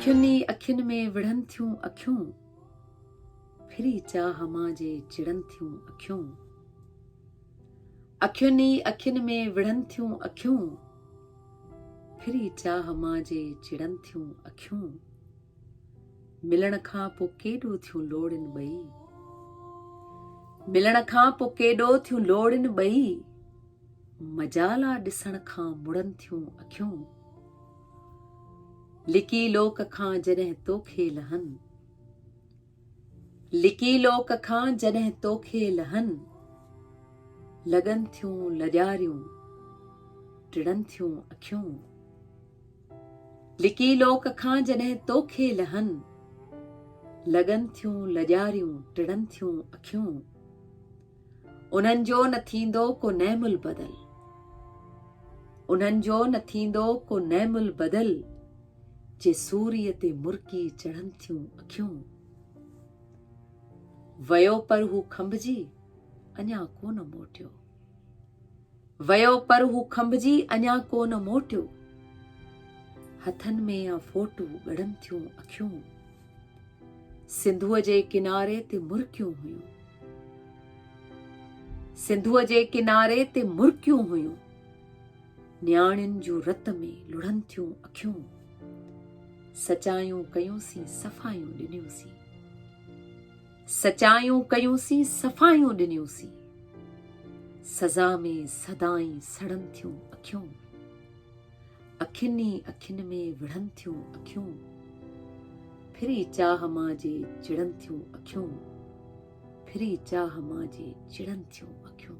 اکين ئي اکين ۾ وڙهن ٿيون اکيون، ڦري چاهه مان جي چڙن ٿيون اکيون. اکين ئي اکين ۾ وڙهن ٿيون اکيون، ڦري چاهه مان جي چڙن ٿيون اکيون. ملڻ کان پو ڪيڏو ٿيون لوڙين ٻئي ملڻ کان پو ڪيڏو ٿيون لوڙين ٻئي مجالا ڏسڻ کان مڙن ٿيون اکيون لڪي لوڪ کان جڏهن توکي لهن لڪي لوڪ کان جڏهن توکي لهن لڳن ٿيون لڄاريون ٽڙن ٿيون اکيون لڪي لوڪ کان جڏهن توکي لهن. لڳن ٿيون لڄاريون ٽڙن ٿيون اکيون. انهن جو نه ٿيندو ڪو نعم البدل. انهن جو نه ٿيندو ڪو نعم البدل. جي سوريء تي مرڪي چڙهن ٿيون اکيون. ويو پر هو کنڀجي اڃا ڪونه موٽيو. ويو پر هو کنڀجي اڃا ڪو نه موٽيو. هٿن ۾ يا فوٽو ڳڙن ٿيون اکيون. سنڌوء جي ڪناري تي مرڪيون هيون. سنڌوء جي ڪناري تي مرڪيون هيون. نياڻين جون رت ۾ لڙن ٿيون اکيون. سچايون ڪيون سين صفايون ڏنيون سين. سچايون ڪيون سين صفايون ڏنيون سين. سزا ۾ سدائين سڙن ٿيون اکيون. اکين ئي اکين ۾ وڙهن ٿيون اکيون. ڦري چاهه مان جي چڙن ٿيون اکيون. ڦري چاهه مان جي چڙن ٿيون اکيون.